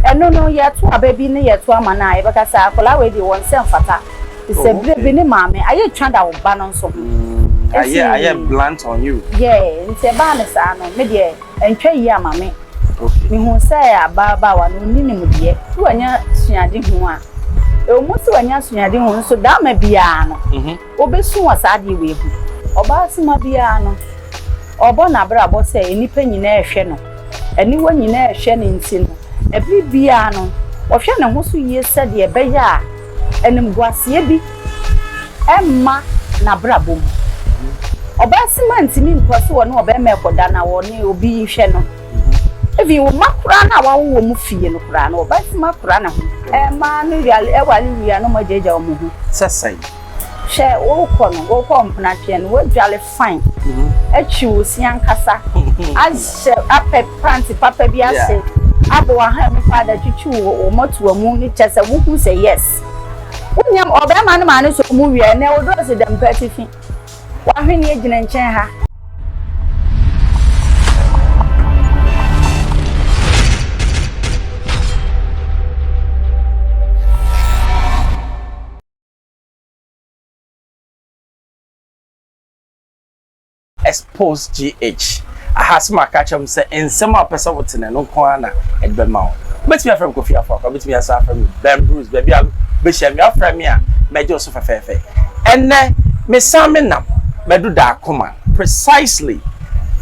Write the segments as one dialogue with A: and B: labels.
A: Ɛno no yɛto aba bi ne yɛto ama no a yɛbɛka sɛ akwadaa wei deɛ wɔn sɛ mfata te sɛ bere bi ne maame ayɛ twa da wo ba no nso ho nti ayɛ
B: blunt on you yeah nti ɛbaa
A: ne saa no me deɛ ɛntwa yie ama me mehu sɛ ababaawa no ɔni nimdeɛ sɛ wanya suade ho a ɛwɔ mu sɛ wanya suade ho nso dama biara no mhm. Obesu wɔ saa ade wei ho. Ɔbaa suma biara no, ɔbɔ n'abrabɔ sɛ nnipa nyinaa rehwɛ no. Aniwa nyinaa rehwɛ no nti no, bere biara no, ɔhwɛ ne ho so yie sɛdeɛ ɛbɛyɛ a animguaseɛ bi remma n'abrabɔ mu. Ɔbaa suma ntumi ntoa so ɔne ɔbarima rekɔda na ɔne obi rehwɛ no. Even wo mma koraa no a wawo wɔn fie no koraa no, ɔbaa suma kora ne ho. Mmaa no ware wia na wɔagyaagyaa wɔn ho. Sɛ sɛn?
B: Hwɛ
A: worekɔ no worekɔ mpenatweɛ no woadware fine atwi wo se ankasa ahyɛ apɛ panty papa bi ase abɔ w'ahan mu paada atwitwi wo wo mmɔtoa mu no kyɛ sɛ wohu sɛ yes wonyam ɔbarima no maa ne sɔɔ mu wieɛ na wodɔɔ se dɛm pɛ atifi w'ahweneɛ gyina nkyɛn ha.
B: Expose GH. Aha sɛ maka akyerɛ mo sɛ nsɛm a wopɛ sɛ wote no, ɛno nko ara na ɛde bɛma wo. Wobɛtumi afrɛ me Kofi Afo Akwa, wobɛtumi asan afrɛ me Ben Bruce, baabi a wobɛhyia me, woafrɛ me a, mɛgye wo so fɛfɛɛfɛ. Ɛnnɛ, mesan menam madu Dakoma, precisely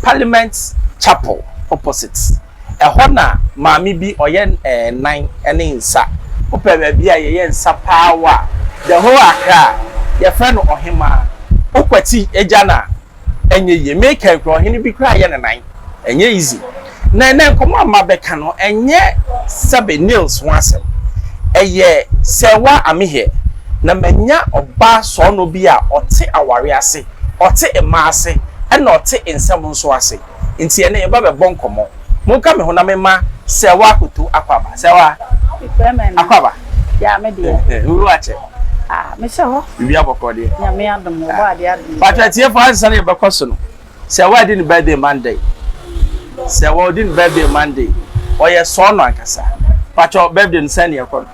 B: Parliament Chapel opposite. Ɛhɔ na maame bi ɔyɛ nan ne nsa. Wopɛ baabi a yɛyɛ nsa paa wɔ a, the whole Accra a, yɛfrɛ no Ɔhemaa. Wokwati gya no a, ɛnyɛ yie. Me kan koraa, ɔhene bi koraa yɛ ne nan. Ɛnyɛ easy. Na ɛnnɛ nkɔmmɔ a mabɛka no, ɛnyɛ sɛbe nails ho asɛm. Ɛyɛ sɛ wa ame hɛ na manya ɔbaa sɔɔnɔ bi a ɔte aware ase, ɔte mmaa ase, ɛna ɔte nsɛm nso ase. Nti ɛnnɛ yɛba bɛbɔ nkɔmmɔ. Monka me ho na memma Sɛwa akoto Akwaaba. Sɛwa! Frɛ me ɛnnɛ. Akwaaba! Yaa me
A: deɛ. Eh eh, wo wura kyɛ?
B: Ah, mehyɛ hɔ.
A: Biribiara bɔkɔɔ deɛ? Nyame
B: adom, ɔbɔ
A: adeɛ adom. Paatwa atiefoɔ ansa na
B: yɛbɛkɔ so no, Sɛwa di ne birthday Monday. Sɛwa ɔdi ne birthday Monday. Ɔyɛ sɔɔnɔ ankasa. Paatwa birthday no sɛn na ɛkɔ no?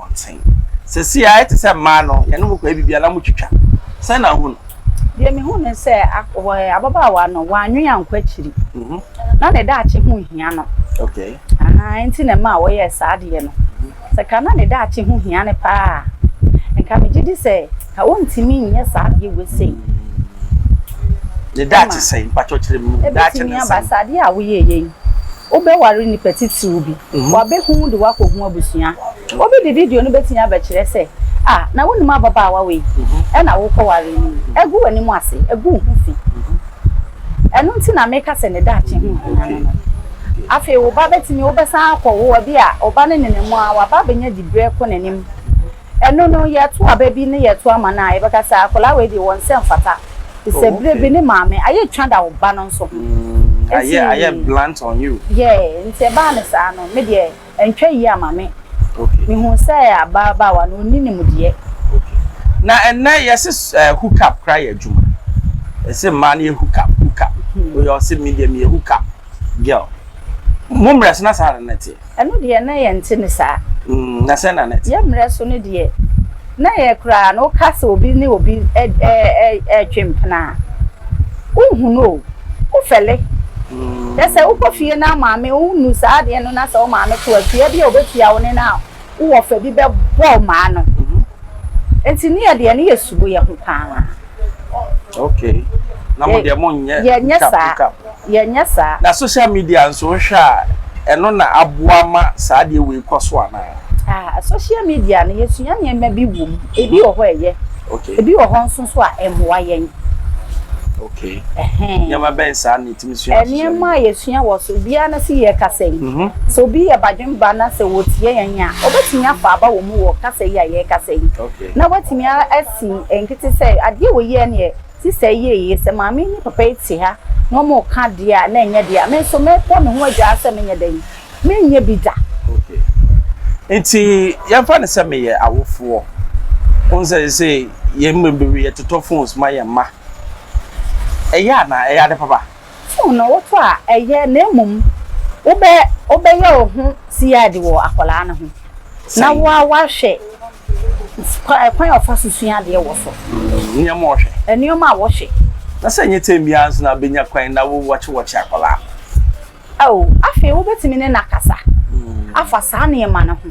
B: abɔnten. Seesei ayɛ te sɛ mmaa no, yɛne mo kɔyɛ biribiara na motwitwa. Sɛn na wuhu no? Deɛ mihu ne
A: sɛ, ababaawa no, wannwen ankɔ akyiri. Ná ne daakye ho hia no.
B: Enti na ɛmaa
A: ɔyɛɛ saa adeɛ no. Sɛ ka na ne daakye ho hia no paa a, nka migye di sɛ ka ontumi nyɛ saa adeɛ wei sei. Ne
B: daakye sɛn? Mpakyɛw kyerɛ me mu. Ebetumi aba sɛ adeɛ a
A: woyɛeɛ yi, wobɛware nipa titiriw bi. Wɔabehu wo de wo akɔhu abusua. Obi de video no betumi abɛkyerɛ sɛ, A, na wunim ababaawa wei? Ɛna wokɔwaree no yi. Agu w'anim ase, agu wo ho fi. Ɛno nti na meka sɛ ne daakye ho hia no no. Afei wo ba betumi, wobɛsan akɔwo, ebia wo ba no nenam mu ara, waba abenya diberɛ kɔ n'anim. Ɛno no yɛto aba bi ne yɛto ama no a yɛbɛka sɛ akwadaa wei deɛ wɔnsɛ mfata te sɛ berɛ bi ne maame ayɛ twa da wo ba no nso ho ayɛ ayɛ
B: blunt on you yeah nti ɛbaa ne
A: saa no me deɛ ɛntwa yie ama me mehu
B: sɛ
A: ababaawa no ɔnni nimdeɛ na
B: ɛnɛ yɛse eh, hook up kora yɛ adwuma ɛsɛ mmaa no yɛ hook up hook up woyɛ ɔsɛ me deɛ meyɛ hook up Girl, mo mmerɛ so na saa na na ɛteɛ? Ɛno deɛ na yɛnte
A: ne saa. Mm, na sɛn na na
B: ɛteɛ? Yɛn mmerɛ so no deɛ,
A: na yɛ koraa no woka sɛ obi ne obi ɛretwe mpena a, wohunu o, wofɛle. Mm. Yɛ sɛ wokɔ fie na maame wonu saa adeɛ no na sɛ wo maame to atua bi a wobɛtua wo ne no a, wo wɔfa bi bɛ bɔɔ maa no nti ne yɛ deɛ ne yɛ subo yɛ ho paa ok
B: na mo deɛ mo nyɛ yɛ nyɛ saa yɛ
A: nyɛ saa na social media
B: nso hwɛ a ɛno na aboa ma saa deɛ wei kɔ so anaa ah social
A: media no yɛ sua nneɛma bi wɔ mu ebi wɔ hɔ ɛyɛ ok ebi wɔ hɔ
B: nso so a
A: ɛmoa yɛn ok
B: nneɛma bɛn saa ni. Nneɛma a yɛsua wɔ
A: so biara no so yɛ kasa yi. Sɛ obi yɛ badwemba na sɛ ɔretie yɛn a, ɔbɛtumi afa aba wɔ mu wɔ kasa yi a yɛrekasa yi. Na watumi
B: asi
A: nkete sɛ, adeɛ wei yɛ neɛ sista yi yɛeɛ yi, sɛ maame yi ne papa yi te ha na wɔreka adeɛ a na ɛnyɛ deɛ a, me nso mɛbɔ me ho adwaa sɛ menyɛ dɛn? Merenyɛ bi da. Okay.
B: Nti yɛmfa no sɛ meyɛ awofoɔ. Wohu sɛ seesei yɛn mu bebree yɛtotɔ phones ma yɛn mma. Ɛyɛ a na ɛyɛ ade papa. So na woto
A: a ɛyɛ na mmom wobɛ wobɛyɛ wo ho CID wɔ akwadaa no ho na wo ara woahwɛ kwan kwan a ɔfa so sua adeɛ wɔ so. Nneɛma a ɔhwɛ.
B: Nneɛma a wɔhwɛ.
A: Na sɛ ɛnyɛ tɛm
B: biara nso na bɛnya kwan na wo wɔkye wɔkye akwadaa no. Ao,
A: afei wobɛtumi ne no akasa afa saa nneɛma no ho.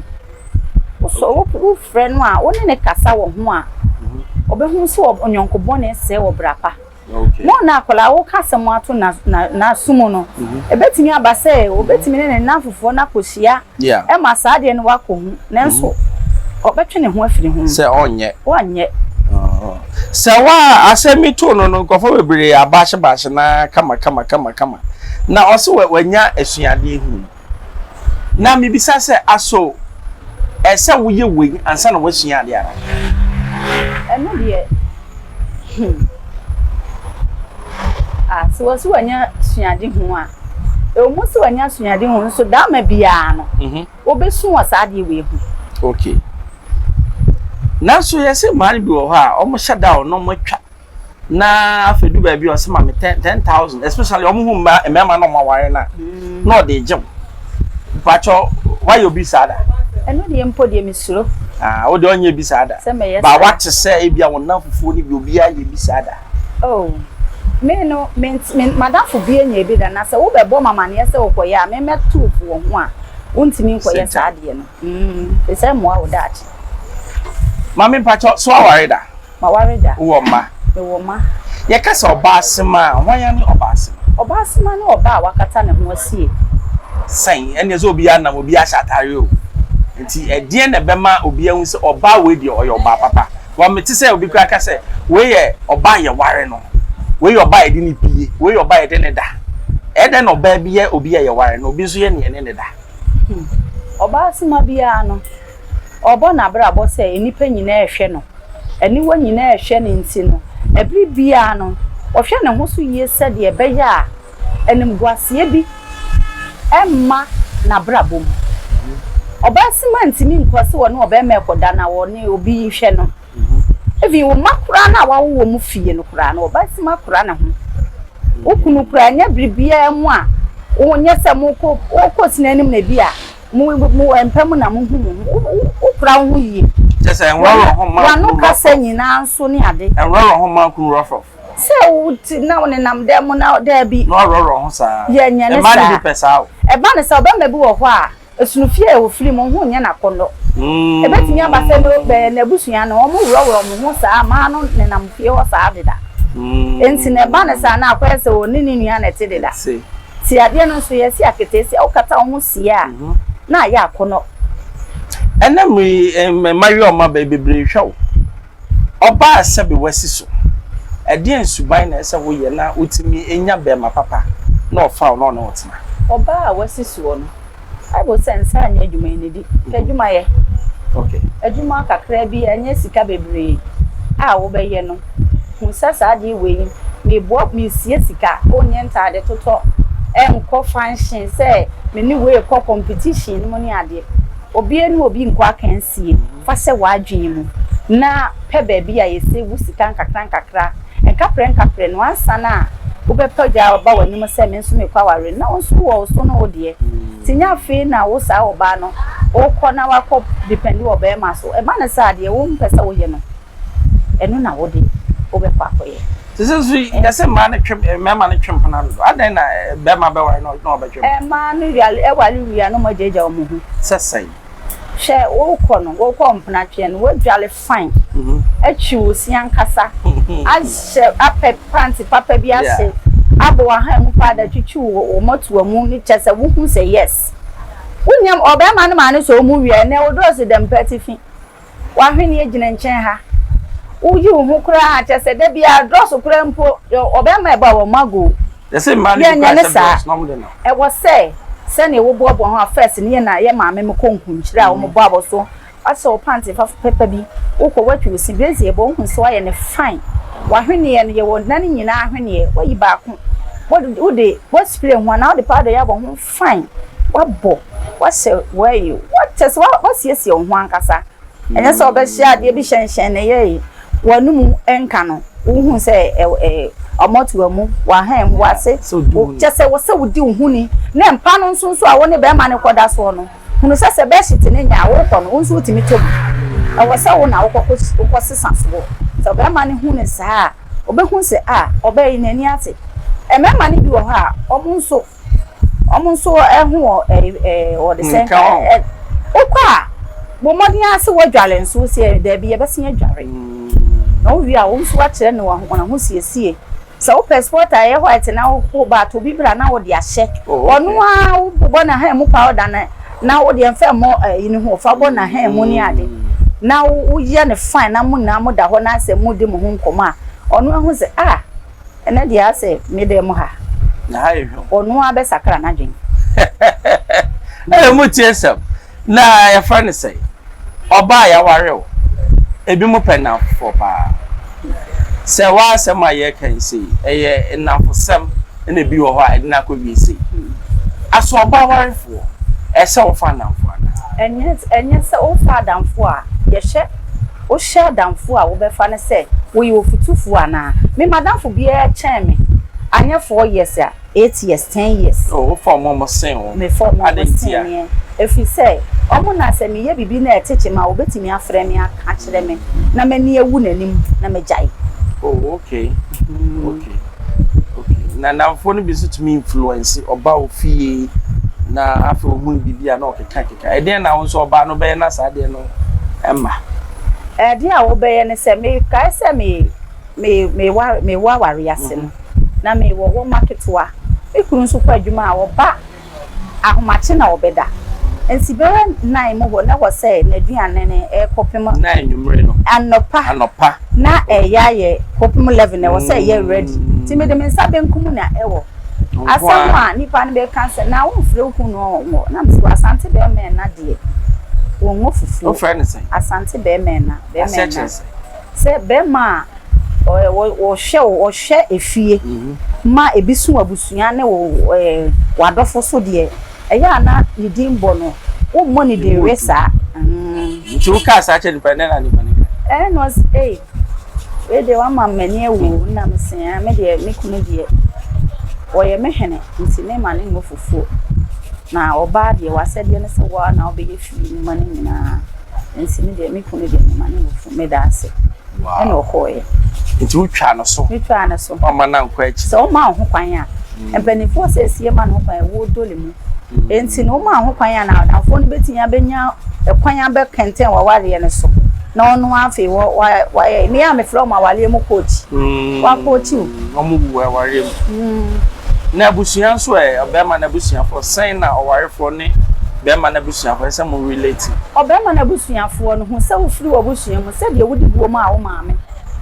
A: Wosɔ wo wofrɛ no a, wo ne no kasa wɔ ho a, ɔbɛhu mhm. sɛ ɔnyɔnko bɔne sɛe wɔ bra pa. Mo na
B: akwadaa woka
A: asɛm ato n'aso mu no, mhm. ɛbɛtumi aba sɛ wobɛtumi ne ne nnamfofoɔ no akɔhyia ɛma saa adeɛ no wakɔ hu, nanso ɔbɛtwe ne ho afiri ho. Sɛ ɔnyɛ. Ɔnyɛ.
B: Sɛ wa asɛm yi too no no, nkurɔfoɔ bebree abaahye baahye na kama kama kama kama, na ɔse wanya asuadeɛ hu. Na mebisa sɛ, aso ɛsɛ woyɛ wei ansa na wasua adeɛ ara?
A: Ɛno deɛ, hmm, ah, sɛ wɔse wanya suade hu a, Ɛwɔ mu sɛ wanya asuade ho nso dama biara no, obesu wɔ saa adeɛ wei ho. Okay.
B: Nanso yɛse mmaa no bi wɔ hɔ a wɔn hyɛ da o na wɔn atwa na afei du baabi ɔsɛ ma me ten ten thousand especially wɔn ho mmaa mmarima na wɔn aware na na ɔde gye wɔn mpatsɔ wayɛ obi saa da. Ɛno deɛ mpo
A: deɛ mesuro. Ah, wo deɛ ɔnyɛ
B: bi saa da. Sɛ mɛyɛ saa. Ba wate sɛ ebi a wɔn nan fufuo no bi obi ayɛ bi saa da. Oh,
A: me no, ment, me, m'adamfo bi anya bi da, na sɛ wobɛbɔ ma amaneɛ sɛ wokɔyɛ a, memmɛto po wɔ ho a, wontumi nkɔyɛ saa adeɛ no. Mm, te sɛ mmoa wo daakye.
B: Maame mpakyɛ, so aware da? Maware da.
A: Wowɔ mma? Mewɔ
B: mma.
A: Yɛka sɛ
B: ɔbaasema a, hwan ne ɔbaasema? Ɔbaasema ne ɔbaa
A: a wakata ne ho asie. Sɛn?
B: Ɛnneɛ sɛ obiara nam, obiara hyɛ atare o. Nti ɛdeɛn na ɛbɛma obiara ahu sɛ ɔbaa wei deɛ ɔyɛ ɔbaa papa? Wɔn me te sɛ obi koraa ka sɛ wei yɛ ɔbaa a yɛware no, wei yɛ ɔbaa a yɛde no pie, wei yɛ ɔbaa a yɛde no da. Ɛyɛ dɛn na ɔbaa bi yɛ obi a yɛware na obi nso yɛ nea yɛne no da?
A: Ɔbaa soma biara no, ɔrebɔ n'abrabɔ sɛ nnipa nyinaa rehwɛ no, aniwa nyinaa rehwɛ no nti no, bere biara no, ɔhwɛ ne ho so yie sɛdeɛ ɛbɛyɛ a Animguaseɛ bi mma n'abrabɔ mu. Ɔbaasima ntumi nkɔ sɛ ɔne ɔbarima rekɔda na ɔne obi rehwɛ no. Even wo mma koraa no a woawo wɔn fie no koraa no, ɔbaasima kura ne ho. Wo kunu koraa, ɛnyɛ bere biara mu a wonyɛ sɛ mokɔ, wokɔ sini anim na ebi a mo, mo mpa mu na mohu mo ho. Wo, wo kura wo ho yie. Kyerɛ sɛ ɛnworɔworɔ
B: ho mma wo kunu rough rough. W'ano kasa nyinaa
A: nso ne ade. Ɛnworɔworɔ ho mma wo kunu
B: rough rough. Sɛ wo ti
A: na wo nenam dan mu na daabi. Na ɔworɔworɔ ho saa.
B: Yɛ nyɛ ne saa. Ɛma ne ho pɛ
A: saa o.
B: Ɛba ne saa o. Barima
A: bi wɔ hɔ a, ɛsono fie a ɔfiri mu, ho nyɛ no akɔnnɔ. Ɛbɛtumi aba sɛ n'abusua no, wɔworɔworɔ wɔn ho saa ma no nenam fie hɔ saa deda. Enti na ɛba ne saa na akɔyɛ sɛ ɔne ne nua na ɛte deda. Nti adeɛ no nso, yɛasi aketeesia. Wokata wo ho sie a, na ayɛ akɔnnɔ. Ɛnnɛ
B: mmerɛ yi, mmayewa a wɔaba yi, bebree hwɛ wo. Ɔbaa sɛ be w'asi so. Ɛdeɛn suban na ɛsɛ woyɛ na wotumi nya bɛɛma papa na ɔfa wo na ɔne wo tena? Ɔbaa a w'asi
A: soɔ no, Bible sɛ nsa nyɛ adwuma yi nidi, pɛ adwuma yɛ.
B: Adwuma kakraa
A: bi ɛnyɛ sika bebree a wobɛyɛ no, hu sɛ saa adeɛ wei yi meboa, mesie sika, ɔnyɛ ntaade totɔ, ɛnkɔ function sɛ me ne wei rekɔ competition nom ne adeɛ. Obiara ne obi nkɔ akansie. Fa hyɛ w'adwene mu na pɛ baabi a yɛsɛ wu sika nkakrankakra. Nkaprɛnkaprɛ no, ansa na wobɛpɛ gya aba w'anim sɛ me nso mekɔ aware no, na wo nso wowɔ wo so ne wo deɛ. Nti nyɛ afei na wo saa ɔbaa no wokɔ na woakɔ depɛndi wɔ barima so. Ɛba no saa a, deɛ wompɛ sɛ woyɛ no, ɛno na wo de wobɛkɔ akɔyɛ. Seesei nso
B: yɛse mmaa no twe mmarima no twe mpena dodo, adɛn na barima bɛware na ɔbɛtwe mpena? Mmaa no
A: ware wie a na wɔagyaagyaa wɔn ho. Sɛ sɛn? Hwɛ worekɔ no worekɔ mpenatweɛ no woadware fine mhm. atwi wo si ankasa mhm. ahyɛ apɛ pante papa bi ase abɔ w'ahan mu paa da twitwi wo wo mɔtoa mu ne kyɛ sɛ wohu sɛ yes wonyam ɔbɛrima no maa ne sɛ ɔmu wia ɛnɛ wodɔɔso dɛm pɛ atifi W'ahweneɛ gyina nkyɛn ha. Woyi wo ho koraa kyerɛ sɛ da biara drɔs koraa mpo yɛ ɔbarima ɛbɔ a wɔn ago o. Yɛn
B: nyɛ ne saa. Ɛwɔ
A: sɛ sɛdeɛ wo boaboa ho a first no yɛ na yɛ maame mo kɔ nkunkyire a wɔn bɔ abɔ so wasɛ wo panty fa pɛpa bi wo kɔ watwi wo se brazier ɛbɔ wo hu sɛ wayɛ no fine. W'ahweneɛ no yɛ wɔ nan nyinaa ahweneɛ wayi baako wo de wo de wo spray ho anaa wo de powder yɛ abɔ ho. Fine, wabɔ, wahyɛ, wayi, what, kyerɛ sɛ wasiesie wo ho ankasa. Ɛnyɛ sɛ ɔbɛhyɛ adeɛ bi hyɛnhyɛn ne yɛe, w'anomu nka no, wohu sɛ ɔmɔto amu, w'ahan mu, w'ase, kyerɛ sɛ wɔ sɛ wodi wo ho ni. Ne mpa no nso nso a wo ne bɛrima no kɔda soɔ no, hunu sɛ sɛ bɛɛhyete no nya a, worekɔ no, wo nso wotumi tɔ bi. Ɛwɔ sɛ wo na wokɔsesa soɔ. Sɛ ɔbarima no hu no saa a, ɔbɛhu sɛ ah, ɔbaa yi n'ani ate. Mmarima no bi wɔ hɔ a, wɔn nso. Wɔn nso ho wɔ ɛɛ ɛɛ wɔde sɛ nka ɛ wokɔ a bɔ mmɔden ara sɛ wɔadware nso si ɛ daabi yɛbɛsen adware na wowie a wɔn nso akyerɛ no wɔn ahosiesie sɛ wopɛ sport a ɛyɛ white na wokɔ ba ato bi bra na wɔde ahyɛ ɔno ara wobɔ na hɛn mu powder na na wode mfa mmɔ ɛyi ne ho fa bɔ na hɛn mu ne ade na woyɛ ne fine na mo nyinaa mo da hɔ na sɛ mo di mo ho nkɔmɔ a ɔno ahu sɛ ah. Ɛnɛ deɛ asɛ me dan mu ha. Na ha yɛ hwam.
B: Ɔno ara bɛsakra
A: n'adwene. Ɛɛ mo
B: tie sɛm. Na yɛfrɛ no sɛ ɔbaa yɛaware o. Ebinom pɛ nnamfofoɔ paa. Sɛ woa asɛm a yɛreka yi sei ɛyɛ nnamfosɛm na ebi wɔ hɔ a ɛde no akɔwie sei. Asɛ ɔbaa warefoɔ ɛsɛ ɔfa nnamfoɔ anaa? Ɛnyɛ sɛ
A: wofa adamfoɔ a yɛhyɛ. Wohyɛ adamfo a wobɛfa no sɛ woyɛ ɔfotufo anaa? Me madamfo biara kyɛn me, anyɛ four years a, eight years, ten years. Oh, wofa wɔn a wɔsen
B: wo. Me fa wɔn a wɔsen
A: meɛ, ɛfiri sɛ wɔn na sɛ meyɛ biribi na ɛte kyem a, wɔbɛtumi afrɛ me aka akyerɛ me na m'ani awu n'anim na magyae. Oh, okay,
B: okay. Okay, na nnamfoɔ no bi nso tumi influence ɔba wo fie na afei ɔhu biribi a na ɔkeka keka. Ɛdeɛn na wo nso ɔbaa no bɛyɛ na saa adeɛ no ɛma? Ɛdeɛn
A: a wobɛyɛ ne sɛ mekae sɛ me me mewɔ awareɛ ase no na mewɔ wɔma ketewa. Me kunu nso kɔ adwuma a ɔba Ahomakye na wɔbɛda. Nsi bɛyɛ nnan mu hɔ na wɔsɛe n'aduane no kɔpem. Na anwummere no.
B: Anɔpa. Anɔpa. Na ɛyɛ
A: ayɛ kɔpem 11 na ɛwɔ sɛ ɛyɛ ready. Nti mede me nsa benkum mu na ɛwɔ. Asɛm a nnipa no bɛka sɛ, Na womfrɛ wo kunu ɔnwɔ. Na mese, Asante bɛrima ɛna deɛ, wɔnwɔ fufuo. Wofrɛ no sɛn? Asante
B: bɛrima ɛna.
A: Aseɛ kyerɛ sɛn? Sɛ barima a ɔhwɛ wo, ɔhwɛ efie ma ebi so w'abusua ne w'adɔfo so deɛ, ɛyɛ a na ne din bɔ no, wommɔ ne din we saa. Nti
B: wo kaa saa kyerɛ nipa no, dɛn na nipa no kae? Ɛɛ na ɔse ei,
A: wei deɛ wama m'ani awu o, nna me se aa, me deɛ me kunu deɛ ɔyɛ me hene nti me ma no mmɔ fufuo, na ɔbaa deɛ w'asɛdeɛ ne sɛ wo ara na wobɛyɛ fie nnwuma no nyinaa. Nti me deɛ me kunu deɛ mema no nufu meda ase. Wow. Ɛna
B: ɔkɔɔeɛ.
A: Nti wotwaa
B: no so? Metwaa no so. Ɔma no ankɔ akyi. Sɛ ɔma ho kwan a.
A: Mm. Mpanimfoɔ sɛ esie ma no ho kwan ɛwɔ dole mu. Mm. Nti na ɔma ho kwan a na adamfoɔ no bɛtumi abɛnya ɛkwan abɛkɛntɛn wawareɛ no so. Na ɔno afei wɔ wɔ wɔ ɛyɛ mmea a mefrɛ wɔn awareɛ mu kookyi. Mm. Wakookyi o. Wɔn wu awareɛ
B: mu. Na abusua nso ɛ, ɔbarima no abusuafoɔ, sɛn na ɔwarefoɔ ne barima no abusuafoɔ ɛsɛ sɛ mo relate? Ɔbarima no abusuafoɔ
A: no hu sɛ wofiri w'abusua mu sɛdeɛ wode buo maa wo maame,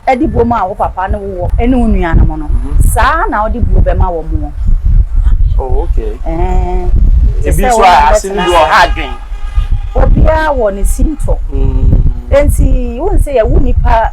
A: de buo maa wo papa ne wo wɔ ne wo nuanom no, saa ara na wode buo bɛma wɔn wɔ. Oh,
B: okay. Ɛɛn.
A: Ebi nso a, ase
B: no bi wɔ ha adwen. Obiara
A: wɔ ne sintɔ. Mm. Enti, wohu sɛ yɛwo nipa.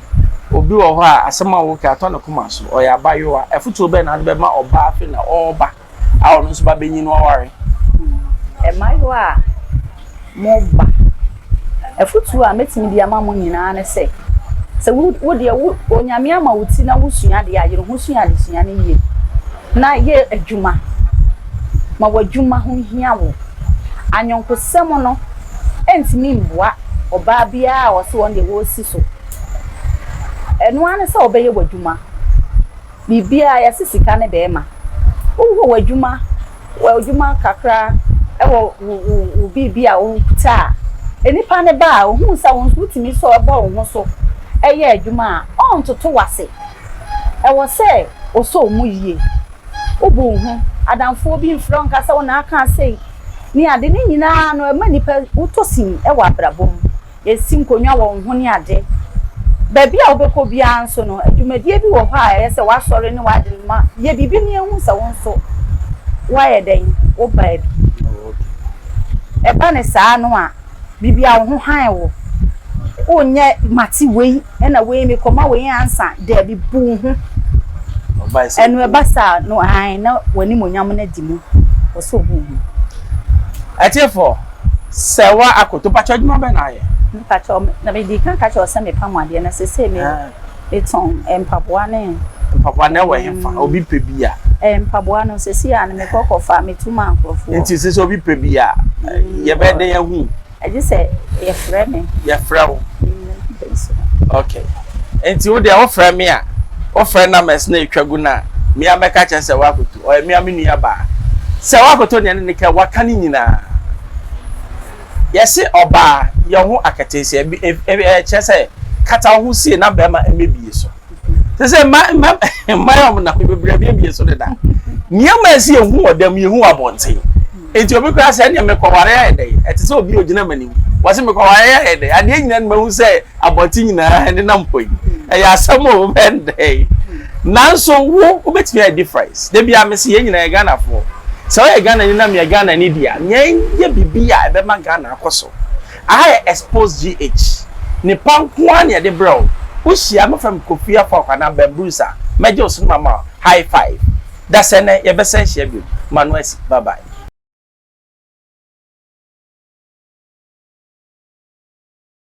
B: Obi wɔ hɔ a, asɛm a woka atɔ ne koma so. Ɔyɛ abayewa. Afotuo bɛn na wode bɛma ɔbaa afei na ɔreba a ɔno nso ba bɛnyin no aware?
A: Mmaayewa a moreba, afotuo a mɛtumi de ama mo nyinaa ne sɛ, sɛ wo wo deɛ wo Onyame ama wo ti na wosua adeɛ a, yere ho sua adesua no yie na yɛ adwuma ma w'adwuma ho hia wo. Anyɔnkosɛm no. ɛntumi mmoa ɔbaa biara a ɔse wɔn deɛ wɔresi so. Ɛno ara ne sɛ wobɛyɛ w'adwuma. Biribiara yɛse sika ne barima. Wowɔ w'adwuma, w'adwuma kakra ɛwɔ wo wo wo biribi a wokuta a, nnipa no ba a ɔhunu sɛ wo nso wotumi sɔ bɔ wo ho so yɛ adwuma a, ɔntoto w'ase. Ɛwɔ sɛ ɔsɔ wo mu yie. wo bo nnhu adamfoɔ bi mfrɛ wo nka sɛ wo na aka sei ne ade, ne nyinaa no ɛma nnipa wotɔ sin wɔ abrabɔ mu, yɛsi nkonnwa wɔ wo ho ne ade. Baabi a wobɛkɔ biara nso no adwumadie bi wɔ hɔ a ɛyɛ sɛ woasɔre ne woade no ma yɛ biribi na yɛhu sɛ wo nso woayɛ dɛn, wobaa bi. Ɛba no saa no a, biribi a wo ho hann wo. Wonyɛ mate wei na wei mekɔma wei ansa daabi bu wo ho. Ɛno ɛba saa no hann na w'animuonyam no adi mu wɔ so obu wo ho. Atiefo,
B: sɛ wa akoto, mpakyɛ adwuma bɛn na ayɛ? Mpakyɛ, na mede
A: kan ka kyerɛ wo sɛ mepam adeɛ na sesei me. Metɔn mpaboa ne. Mpaboa na ɛwɔ he fa? Obi
B: pɛ bi a. Mpaboa no
A: sɛsi a no mekɔ kɔ fa metu ma nkorɔfoɔ. Nti sɛsi obi pɛ bi
B: a yɛbɛ dɛn ahu. Ɛgye sɛ
A: yɛfrɛ me. Yɛfrɛ wo.
B: Ok nti wo deɛ wo frɛ me a wo frɛ numbers na ɛtwa gu no a me a mɛka kyerɛ sɛ woakɔtu ɔyɛ me a me nua baa sɛ woakɔtɔ nea ne ne ka waka ne nyinaa. Yɛse ɔbaa yɛ ho akataasia bi kyerɛ sɛ kata wo ho sie na bɛrima mmebie so. Te sɛ mma mma mma yɛ ɔmo na bebree abiebie so deda. Nneɛma ɛsi yɛ hu wɔ dɛm yɛ hu abɔnten. Eti obi koraa sɛ ɛnneɛ mekɔware ayɛ dɛ ɛte sɛ obi ogyina m'anim wɔse mekɔware ayɛ dɛ adeɛ nyinaa no mahu sɛ abɔnten nyinaa nenam hɔ yi ɛyɛ asɛm o wobɛyɛ no dɛn nanso wo wobɛtumi ayɛ difference da bia mese yɛn nyinaa yɛ ghanafoɔ sɛ woyɛ ghanani na meyɛ ghanani deɛ a nea ɛnyɛ biribi a ɛbɛma ghana akɔ so aha yɛ expose gh nipa nko ara na yɛde brɛ wo wohyia mɛfrɛ me kofi afɔ akwana bambruus a mɛgye wo so no mama high five dasɛ nɛ yɛbɛsɛ hyia bio ma no asi bye bye